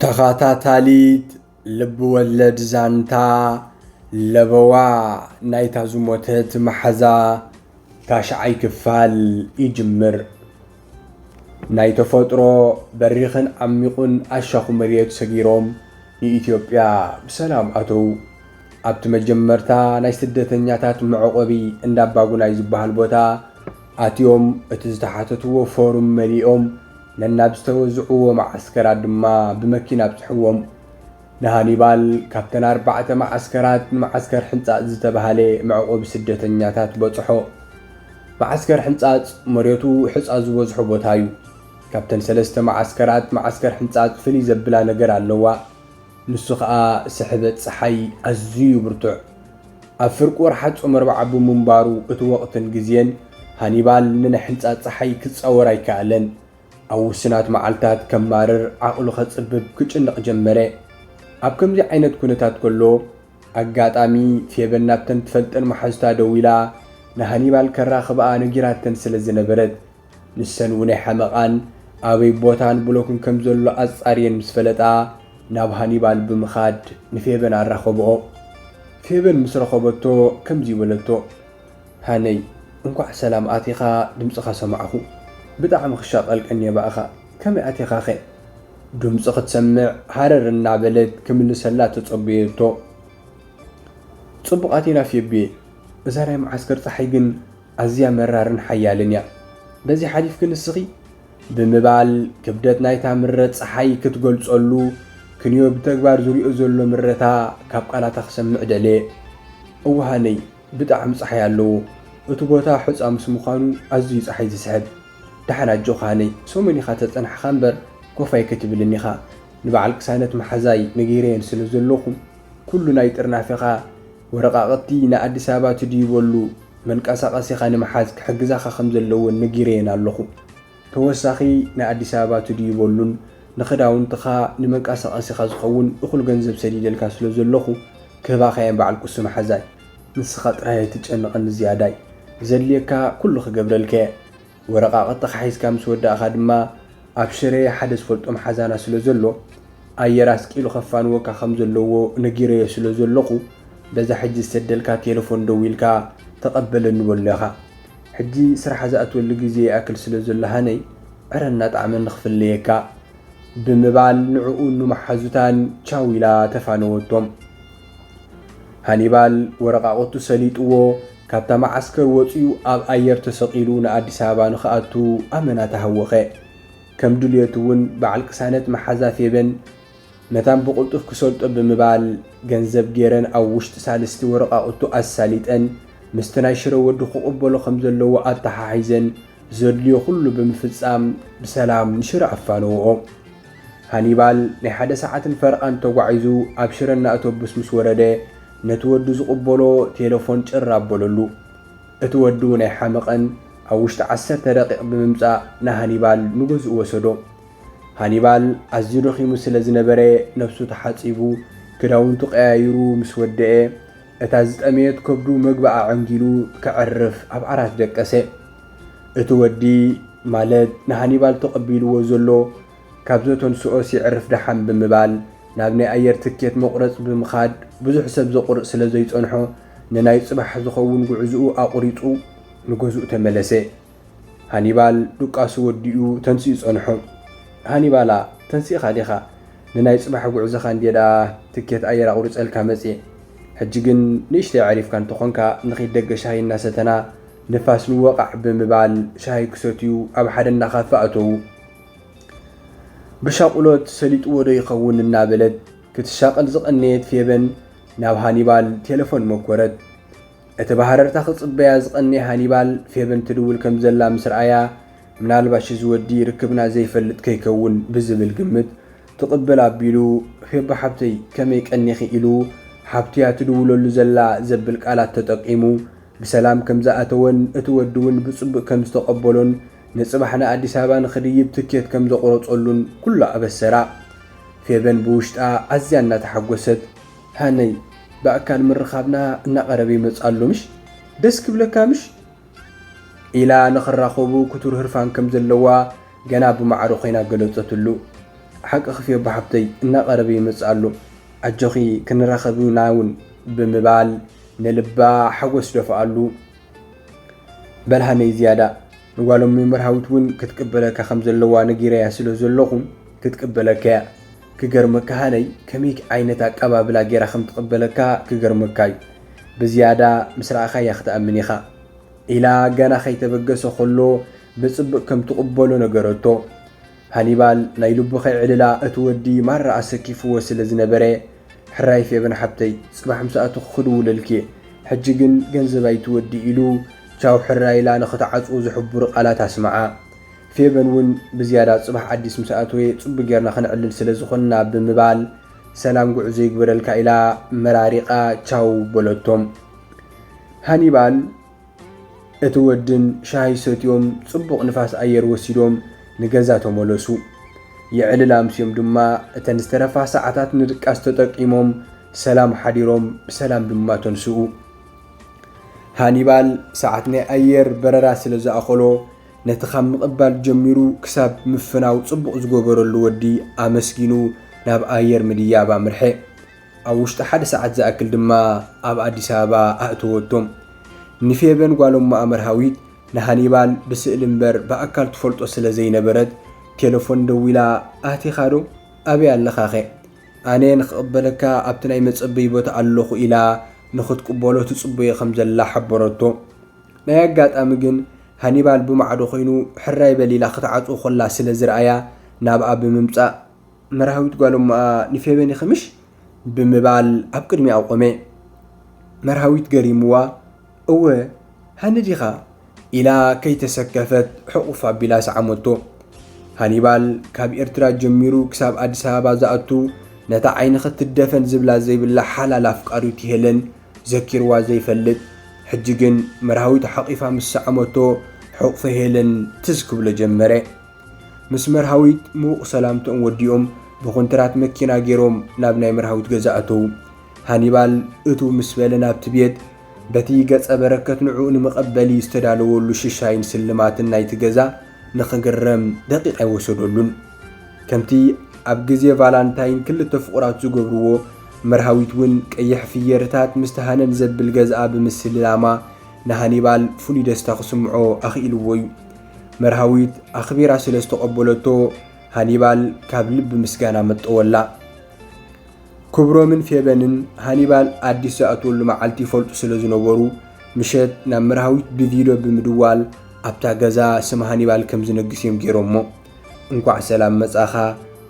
ተኸታታሊት ልብወለድ ዛንታ ለበዋ ናይታ ዝሞተት መሓዛ ታሽዓይ ክፋል ይጅምር። ናይ ተፈጥሮ በሪኽን ዓሚቝን ኣሻዅ መሬት ሰጊሮም ንኢትዮጵያ ብሰላም ኣተዉ። ኣብቲ መጀመርታ ናይ ስደተኛታት መዕቖቢ እንዳ ኣባጉናይ ዝበሃል ቦታ፣ ኣትዮም እቲ ዝተሓተትዎ ፎርም መሊኦም ነናብ ዝተወዝዕዎ መዓስከራት ድማ ብመኪና ኣብጽሕዎም። ንሃኒባል ካብተን ኣርባዕተ መዓስከራት ንመዓስከር ሕንጻጽ ዝተባህለ መዕቆቢ ስደተኛታት በጽሖ። መዓስከር ሕንጻጽ መሬቱ ሕጻ ዝበዝሖ ቦታ'ዩ። ካብተን ሰለስተ መዓስከራት መዓስከር ሕንጻጽ ፍልይ ዘብላ ነገር ኣለዋ። ንሱ ከኣ ስሕበት ጸሓይ ኣዝዩ ብርቱዕ ኣብ ፍርቂ ወርሓት ጾም ኣርብዓ ብምንባሩ እቲ ወቕትን ግዜን ሃኒባል ንናይ ሕንጻጽ ጸሓይ ክጻወር ኣይከኣለን። ኣብ ውሱናት መዓልታት ከማርር ዓቕሉ ከጽብብ ክጭነቕ ጀመረ። ኣብ ከምዚ ዓይነት ኩነታት ከሎ ኣጋጣሚ ፌበን ናብተን ትፈልጠን መሓዙታ ደዊላ ንሃኒባል ከራኽብኣ ነጊራተን ስለ ዝነበረት ንሰን ውነይ ሓመቓን ኣበይ ቦታን ብሎክን ከም ዘሎ ኣጻርየን ምስ ፈለጣ ናብ ሃኒባል ብምኻድ ንፌበን ኣራኸብኦ። ፌበን ምስ ረኸበቶ ከምዚ በለቶ፣ ሃነይ እንኳዕ ሰላም ኣቲኻ ድምጽኻ ሰማዕኹ። ብጣዕሚ ክሻቐል ቀንየ ብኣኻ። ከመይ ኣቲኻኸ? ድምጹ ክትሰምዕ ሃረር እናበለት ክምልሰላ ተጸበየቶ። ጽቡቕ ኣቲና ፌቢየይ። እዛ ናይ መዓስከር ጸሓይ ግን ኣዝያ መራርን ሓያልን እያ። በዚ ሓሊፍኪ ንስኺ? ብምባል ክብደት ናይታ ምረ ጸሓይ ክትገልጸሉ፣ ክንዮ ብተግባር ዝሪኦ ዘሎ ምረታ ካብ ቃላታ ክሰምዕ ደለየ። እወሃነይ፣ ብጣዕሚ ጸሓይ ኣለዎ። እቲ ቦታ ሑጻ ምስ ምዃኑ ኣዝዩ ጸሓይ ዝስሕብ። ደሓን ኣጆኺ ሃነይ፣ ሰሙን ኢኻ ተጸናሕኻ እምበር ኮፍ ኣይክትብልን ኢኻ። ንበዓል ቅሳነት መሓዛይ ነጊረየን ስለ ዘለኹ፣ ኩሉ ናይ ጥርናፌኻ ወረቓቕቲ ንኣዲስ ኣበባ ትድይበሉ፣ መንቀሳቐሲኻ ንምሓዝ ክሕግዛኻ ከም ዘለወን ነጊረየን ኣለኹ። ተወሳኺ ናይ ኣዲስ ኣበባ ትድዩ በሉን ንኽዳውንትኻ ንመንቀሳቐሲኻ ዝኸውን እኹል ገንዘብ ሰዲደልካ ስለ ዘለኹ ክህባኻየን በዓል ቁሲ መሓዛይ። ንስኻ ጥራይ ኣይትጨንቐኒ ዝያዳይ። ዘድልየካ ኩሉ ክገብረልካየ። ወረቓቕትኻ ሒዝካ ምስ ወዳእኻ ድማ ኣብ ሽረ ሓደ ዝፈልጦም ሓዛና ስለ ዘሎ ኣየር ኣስቂሉ ከፋንወካ ከም ዘለዎ ነጊረዮ ስለ ዘለኹ በዛ ሕጂ ዝሰደልካ ቴለፎን ደዊልካ ተቐበለኒ በሎ ኢኻ። ሕጂ ስራሕ ዝኣትወሉ ግዜ ይኣክል ስለ ዘሎ ሃነይ ዕረ እናጠዓመኒ ክፍለየካ ብምባል ንዕኡን ንመሓዙታን ቻው ኢላ ተፋነወቶም። ሃኒባል ወረቓቕቱ ሰሊጥዎ ካብታ መዓስከር ወጺኡ ኣብ ኣየር ተሰቒሉ ንኣዲስ ኣበባ ንኽኣቱ ኣመና ተሃወኸ። ከም ድልየቱ እውን በዓል ቅሳነት መሓዛ ፌበን መታን ብቕልጡፍ ክሰልጦ ብምባል ገንዘብ ገይረን ኣብ ውሽጢ ሳልስቲ ወረቓቕቱ ኣሳሊጠን ምስቲ ናይ ሽረ ወዲ ክቕበሎ ከም ዘለዎ ኣተሓሒዘን ዘድልዮ ኩሉ ብምፍጻም ብሰላም ንሽረ ኣፋነውኦ። ሃኒባል ናይ ሓደ ሰዓትን ፈረቓን ተጓዒዙ ኣብ ሽረ እናእቶብስ ምስ ወረደ ነቲ ወዱ ዝቕበሎ ቴለፎን ጭር ኣበለሉ። እቲ ወዲ'ውን ኣይሓመቐን ኣብ ውሽጢ ዓሰርተ ደቒቕ ብምምጻእ ንሃኒባል ንገዝኡ ወሰዶ። ሃኒባል ኣዝዩ ደኺሙ ስለ ዝነበረ ነብሱ ተሓጺቡ ክዳውንቱ ቀያይሩ ምስ ወደኤ፣ እታ ዝጠመየት ከብዱ መግቢ ኣዐንጊሉ ከዕርፍ ኣብ ዓራት ደቀሰ። እቲ ወዲ ማለት ንሃኒባል ተቐቢልዎ ዘሎ ካብ ዘተንስኦስ የዕርፍ ደሓን ብምባል ናብ ናይ ኣየር ትኬት መቑረጺ ብምኻድ ብዙሕ ሰብ ዘቑርጽ ስለ ዘይጸንሖ ንናይ ጽባሕ ዝኸውን ጉዕዝኡ ኣቑሪጹ ንገዝኡ ተመለሰ። ሃኒባል ዱቃሱ ወዲኡ ተንሲኡ ጸንሑ። ሃኒባላ ተንሲእኻ ዲኻ? ንናይ ጽባሕ ጉዕዞኻ እንድየ ደኣ ትኬት ኣየር ኣቑሪጸልካ መጺኤ። ሕጂ ግን ንእሽተይ ኣዕሪፍካ እንተኾንካ ንኺድ ደገ ሻሂ እናሰተና ንፋስ ንወቓዕ ብምባል ሻሂ ክሰትዩ ኣብ ሓደ እንዳ ካፈ ኣተዉ። ብሻቑሎት ሰሊጥዎዶ ይኸውን እናበለት ክትሻቐል ዝቐነየት ፌበን ናብ ሃኒባል ቴለፎን መኮረት። እቲ ብሃረርታ ክጽበያ ዝቐነየ ሃኒባል፣ ፌበን ትድውል ከም ዘላ ምስ ረኣያ፣ ምናልባሽ እዚ ወዲ ርክብና ዘይፈልጥ ከይከውን ብዝብል ግምት፣ ትቕብል ኣቢሉ፣ ፌቦ ሓብተይ፣ ከመይ ቀኒኺ? ኢሉ፣ ሓብቱ'ያ ትድውለሉ ዘላ ዘብል ቃላት ተጠቂሙ፣ ብሰላም ከም ዝኣተወን እቲ ወዲ'ውን ብጽቡቕ ከም ዝተቐበሎን ንጽባሕ ንኣዲስ ኣበባ ንኽድይብ ትኬት ከም ዘቑረጸሉን ኩሉ ኣበሰራ። ፌበን ብውሽጣ ኣዝያ እናተሓጎሰት። ሃነይ ብኣካል ምርኻብና እናቐረበ ይመጽእ ኣሎ ምሽ? ደስ ክብለካ ምሽ? ኢላ ንኽራኸቡ ክቱር ህርፋን ከም ዘለዋ ገና ብማዕረ ኮይና ገለጸትሉ። ሓቅኺ ፌቡ ሓፍተይ እናቐረበ ይመጽእ ኣሎ ኣጆኺ ክንራኸብ ኢና እውን ብምባል ንልባ ሓጎስ ደፍኣሉ። በል ሃነይ ዝያዳ። ንጓሎም ንመርሃዊት ውን ክትቅበለካ ከም ዘለዋ ነጊረያ ስለ ዘለኹ ክትቅበለካ እያ ክገርመካ ሃነይ ከመይ ዓይነት ኣቀባብላ ጌራ ከም ትቅበለካ ክገርመካ እዩ ብዝያዳ ምስ ረኣኻያ ክትኣምን ኢኻ ኢላ ገና ከይተበገሰ ከሎ ብጽብቅ ከም ትቅበሎ ነገረቶ ሃኒባል ናይ ልቡ ከይዕልላ እቲ ወዲ ማራ ኣሰኪፍዎ ስለ ዝነበረ ሕራይ ፌበን ሓብተይ ጽባሕ ምስ ኣተኹ ክድውለልኪ'የ ሕጂ ግን ገንዘብ ኣይትወድይ ኢሉ ቻው ሕራይ ኢላ ንኽትዓጽዎ ዘሕቡሩ ቃላት ኣስመዓ ፌበን ውን ብዝያዳ ጽባሕ ኣዲስ ምስ ኣተወ ጽቡቅ ጌርና ክንዕልል ስለ ዝኾንና ብምባል ሰላም ጉዕዞ ይግበረልካ ኢላ መራሪቃ ቻው በለቶም ሃኒባል እቲ ወድን ሻሂ ሰትዮም ጽቡቕ ንፋስ ኣየር ወሲዶም ንገዛ ተመለሱ። የዕልል ኣምስዮም ድማ እተን ዝተረፋ ሰዓታት ንድቃስ ተጠቂሞም ሰላም ሓዲሮም ብሰላም ድማ ተንስኡ። ሃኒባል ሰዓት ናይ ኣየር በረራ ስለ ዝኣኸሎ ነቲ ካብ ምቕባል ጀሚሩ ክሳብ ምፍናው ጽቡቕ ዝገበረሉ ወዲ ኣመስጊኑ ናብ ኣየር ምድያብ ኣምርሐ። ኣብ ውሽጢ ሓደ ሰዓት ዝኣክል ድማ ኣብ ኣዲስ ኣበባ ኣእተወቶም። ንፌበን ጓሎም መኣ መርሃዊት ንሃኒባል ብስእሊ እምበር ብኣካል ትፈልጦ ስለ ዘይነበረት ቴለፎን ደዊላ ኣቲኻዶ? ኣበይ ኣለኻኸ? ኣነ ንኽቕበለካ ኣብቲ ናይ መጸበዪ ቦታ ኣለኹ ኢላ ንኽትቅበሎ ትጽበዮ ከም ዘላ ሓበረቶ። ናይ ኣጋጣሚ ግን ሃኒባል ብማዕዶ ዀይኑ ሕራይ በል ኢላ ክትዓጽዎ ኸላ ስለ ዝርኣያ ናብኣ ብምምጻእ መራህዊት ጓል እሞኣ ንፌበን ይኽምሽ ብምባል ኣብ ቅድሚኣ ቆመ። መርሃዊት ገሪምዋ እወ ሃኒ ዲኻ ኢላ ከይተሰከፈት ሕቑፍ ኣቢላ ሰዓመቶ። ሃኒባል ካብ ኤርትራ ጀሚሩ ክሳብ ኣዲስ ኣበባ ዝኣቱ ነታ ዓይኒ ክትደፈን ዝብላ ዘይብላ ሓላል ኣፍቃሪቱ ሄለን ዘኪርዋ ዘይፈልጥ ሕጂ ግን መርሃዊት ሓቒፋ ምስ ሰዓመቶ ሕቑፈ ሄለን ትዝ ክብሎ ጀመረ። ምስ መርሃዊት ምዉቕ ሰላምትኦም ወዲኦም ብኮንትራት መኪና ገይሮም ናብ ናይ መርሃዊት ገዛ ኣተዉ። ሃኒባል እትው ምስ በለ ናብቲ ቤት በቲ ገጸ በረከት ንዕኡ ንመቐበሊ ዝተዳለወሉ ሽሻይን ስልማትን ናይቲ ገዛ ንኽግረም ደቂቕ ኣይወሰደሉን። ከምቲ ኣብ ግዜ ቫላንታይን ክልተ ፍቑራት ዝገብርዎ፣ መርሃዊት እውን ቀይሕ ፍየርታት ምስቲ ሃነን ዘብል ገዛኣ ብምስልላማ ንሃኒባል ፍሉይ ደስታ ክስምዖ ኣኽኢልዎ እዩ። መርሃዊት ኣኽቢራ ስለ ዝተቐበለቶ ሃኒባል ካብ ልቢ ምስጋና መጠወላ። ክብሮምን ፌበንን ሃኒባል ኣዲስ ዝኣትወሉ መዓልቲ ይፈልጡ ስለ ዝነበሩ ምሸት ናብ መርሃዊት ብቪድዮ ብምድዋል ኣብታ ገዛ ስም ሃኒባል ከም ዝነግስ እዮም ገይሮሞ። እንኳዕ ሰላም መጻኻ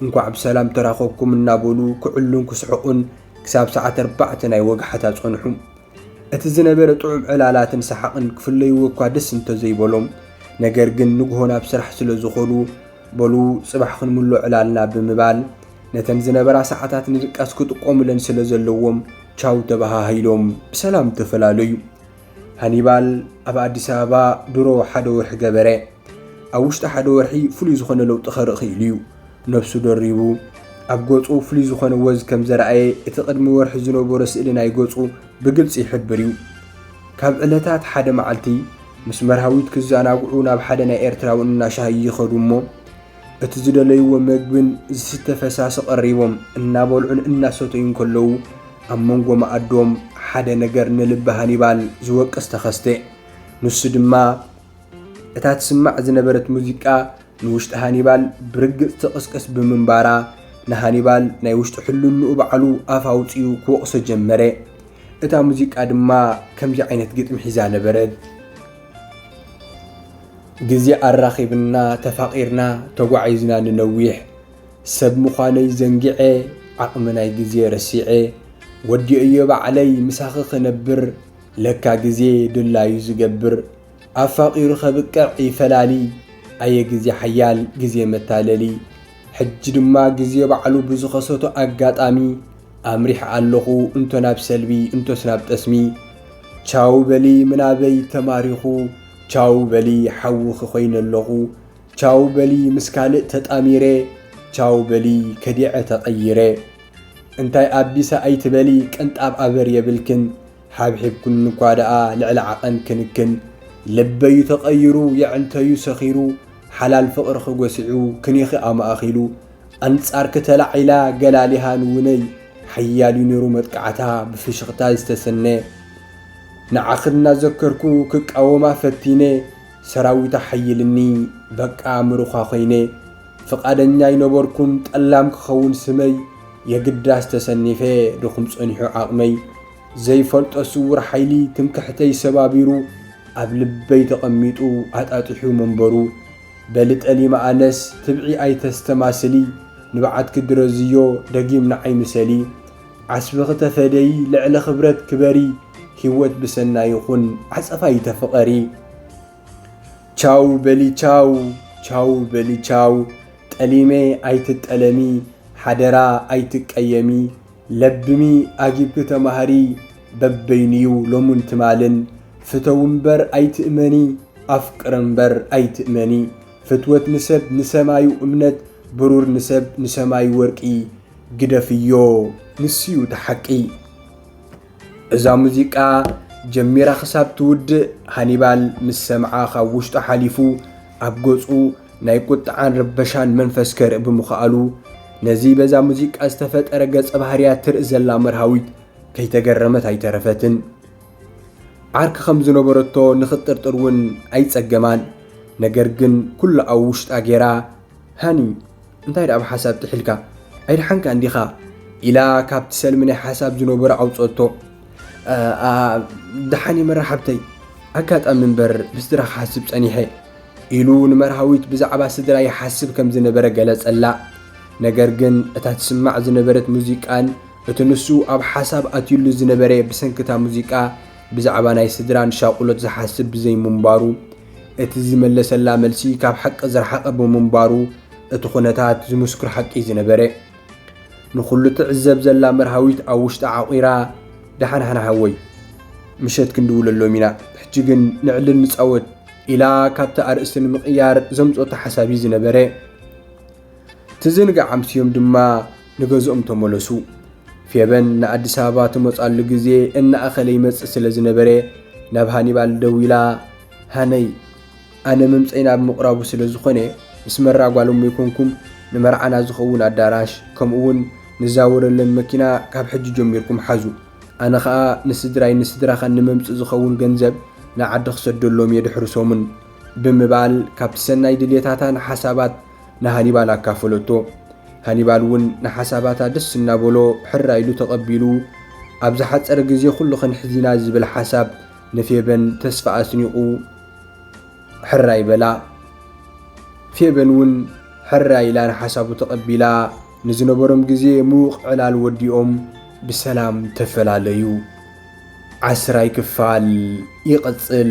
እንኳዕ ብሰላም ተራኸብኩም እናበሉ ክዕሉን ክስሕቑን ክሳብ ሰዓት ኣርባዕተ ናይ ወግሓታ ጸንሑ። እቲ ዝነበረ ጥዑም ዕላላትን ሰሓቕን ክፍለይዎ እኳ ደስ እንተዘይበሎም፣ ነገር ግን ንግሆ ናብ ስራሕ ስለ ዝኾዱ፣ በሉ ጽባሕ ክንምሎ ዕላልና ብምባል፣ ነተን ዝነበራ ሰዓታት ንድቃስ ክጥቀሙለን ስለ ዘለዎም ቻው ተበሃሂሎም ብሰላም ተፈላለዩ። ሃኒባል ኣብ ኣዲስ ኣበባ ድሮ ሓደ ወርሒ ገበረ። ኣብ ውሽጢ ሓደ ወርሒ ፍሉይ ዝኾነ ለውጢ ከርኢ ክኢሉ እዩ። ነብሱ ደሪቡ ኣብ ገጹ ፍሉይ ዝኾነ ወዝ ከም ዘርኣየ እቲ ቅድሚ ወርሒ ዝነበሮ ስእሊ ናይ ገጹ ብግልጺ ይሕብር እዩ። ካብ ዕለታት ሓደ መዓልቲ ምስ መርሃዊት ክዘናግዑ ናብ ሓደ ናይ ኤርትራዊ እናሻሂ ይኸዱ እሞ እቲ ዝደለይዎ መግብን ዝስተ ፈሳሲ ቀሪቦም እናበልዑን እናሰተዩን ከለዉ ኣብ መንጎ መኣዶም ሓደ ነገር ንልቢ ሃኒባል ዝወቅስ ተኸስተ። ንሱ ድማ እታ ትስማዕ ዝነበረት ሙዚቃ ንውሽጢ ሃኒባል ብርግጽ ትቕስቅስ ብምንባራ፣ ንሃኒባል ናይ ውሽጢ ሕልንኡ ባዕሉ ኣፍ ኣውጺኡ ክወቕሶ ጀመረ። እታ ሙዚቃ ድማ ከምዚ ዓይነት ግጥሚ ሒዛ ነበረት። ግዜ ኣራኺብና ተፋቒርና ተጓዒዝና ንነዊሕ ሰብ ምዃነይ ዘንጊዐ ዓቕሚ ናይ ግዜ ረሲዐ ወዲኦዮ ባዕለይ ምሳኺ ክነብር ለካ ግዜ ድላዩ ዝገብር ኣፋቂሩ ከብቅዕ ይፈላሊ ኣየ ግዜ ሓያል ግዜ መታለሊ ሕጂ ድማ ግዜ ባዕሉ ብዝኸሰቶ ኣጋጣሚ ኣምሪሕ ኣለኹ እንቶ ናብ ሰልቢ እንቶስ ናብ ጠስሚ ቻው በሊ ምናበይ ተማሪኹ ቻው በሊ ሓውኺ ኮይነ ኣለኹ ቻው በሊ ምስ ካልእ ተጣሚረ ቻው በሊ ከዲዐ ተቐይረ እንታይ ኣቢሳ ኣይትበሊ ቅንጣብ ኣበር የብልክን ሓብሒብኩኒ እኳ ደኣ ልዕሊ ዓቐን ክንክን ልበዩ ተቐይሩ የዕንተዩ ሰኺሩ ሓላል ፍቕርኺ ጎሲዑ ክኒኺ ኣማእኺሉ ኣንጻርኪ ተላዒላ ገላሊሃ ንውነይ ሓያልዩ ነይሩ መጥቃዕታ ብፍሽኽታ ዝተሰነ ንዓኺ እናዘከርኩ ክቃወማ ፈቲነ ሰራዊታ ሓይልኒ በቃ ምሩኻ ኮይነ ፍቃደኛ ኣይነበርኩን ጠላም ክከውን ስመይ የግዳስ ተሰኒፈ ድኩም ጸኒሑ ዓቅመይ ዘይፈልጦ ስውር ሓይሊ ትምክሕተይ ሰባቢሩ ኣብ ልበይ ተቀሚጡ ኣጣጢሑ መንበሩ በሊ ጠሊመ ኣነስ ትብዒ ኣይተስተማስሊ ንብዓትኪ ድረዝዮ ደጊም ንዓይ ምሰሊ ዓስብኪ ተፈደዪ ልዕሊ ክብረት ክበሪ ሂወት ብሰናይ ይኩን ዓጸፋ ኣይተፍቀሪ። ቻው በሊ ቻው ቻው በሊ ቻው ጠሊመ ኣይትጠለሚ ሓደራ ኣይትቀየሚ ለብሚ ኣጊብኪ ተማሃሪ በበይኑዩ ሎሙን ትማልን ፍተዊ እምበር ኣይትእመኒ ኣፍቅሪ እምበር ኣይትእመኒ ፍትወት ንሰብ ንሰማዩ እምነት ብሩር ንሰብ ንሰማዩ ወርቂ ግደፍዮ ንሱዩ እቲ ሓቂ። እዛ ሙዚቃ ጀሚራ ክሳብ ትውድእ ሃኒባል ምስ ሰምዓ ካብ ውሽጡ ሓሊፉ ኣብ ገጹ ናይ ቁጥዓን ረበሻን መንፈስ ከርኢ ብምኽኣሉ ነዚ በዛ ሙዚቃ ዝተፈጠረ ገጸ ባህርያ ትርኢ ዘላ መርሃዊት ከይተገረመት ኣይተረፈትን። ዓርኪ ከም ዝነበረቶ ንኽጥርጥር እውን ኣይጸገማን። ነገር ግን ኩሉ ኣብ ውሽጣ ጌራ ሃኒ እንታይ ደኣ ብሓሳብ ጥሒልካ ኣይደሓንካን ዲኻ? ኢላ ካብቲ ሰልሚ ናይ ሓሳብ ዝነበሮ ኣውፀቶ። ደሓን እየ መራሕብተይ፣ ኣጋጣሚ እምበር ብስድራ ክሓስብ ፀኒሐ ኢሉ ንመርሃዊት ብዛዕባ ስድራ ይሓስብ ከም ዝነበረ ገለጸላ። ነገር ግን እታ ትስማዕ ዝነበረት ሙዚቃን እቲ ንሱ ኣብ ሓሳብ ኣትዩሉ ዝነበረ ብሰንክታ ሙዚቃ ብዛዕባ ናይ ስድራን ሻቁሎት ዝሓስብ ብዘይምንባሩ እቲ ዝመለሰላ መልሲ ካብ ሓቂ ዝረሓቐ ብምንባሩ እቲ ኩነታት ዝምስክር ሓቂ'ዩ ዝነበረ። ንኹሉ ትዕዘብ ዘላ መርሃዊት ኣብ ውሽጣ ዓቚራ፣ ደሓን ሓን ሓወይ፣ ምሸት ክንድውለሎም ኢና፣ ሕጂ ግን ንዕልል ንጻወት ኢላ ካብቲ ኣርእስቲ ንምቕያር ዘምጽኦቶ ሓሳብ'ዩ ዝነበረ። እቲ ዝንጋዕ ኣምስዮም ድማ ንገዝኦም ተመለሱ። ፌበን ንኣዲስ ኣበባ ትመጻሉ ግዜ እናኣኸለ ይመጽእ ስለ ዝነበረ ናብ ሃኒባል ደዊላ ሃነይ ኣነ ምምፀይ ናብ ምቕራቡ ስለ ዝኾነ ምስ መራ ጓሎም ይኮንኩም ንመርዓና ዝኸውን ኣዳራሽ ከምኡ እውን ንዛወረለን መኪና ካብ ሕጂ ጀሚርኩም ሓዙ ኣነ ኸኣ ንስድራይ ንስድራኻን ንመምፅ ዝኸውን ገንዘብ ንዓዲ ክሰደሎም የድሕርሶምን ብምባል ካብቲ ሰናይ ድሌታታን ሓሳባት ንሃኒባል ኣካፈለቶ። ሃኒባል እውን ንሓሳባታ ደስ እናበሎ ሕራይ ኢሉ ተቐቢሉ፣ ኣብ ዝሓጸረ ግዜ ኵሉ ክንሕዚና ዝብል ሓሳብ ንፌበን ተስፋ ኣስኒቑ ሕራይ በላ። ፌበን እውን ሕራይ ኢላ ንሓሳቡ ተቐቢላ፣ ንዝነበሮም ግዜ ምዉቕ ዕላል ወዲኦም ብሰላም ተፈላለዩ። ዓስራይ ክፋል ይቕጽል።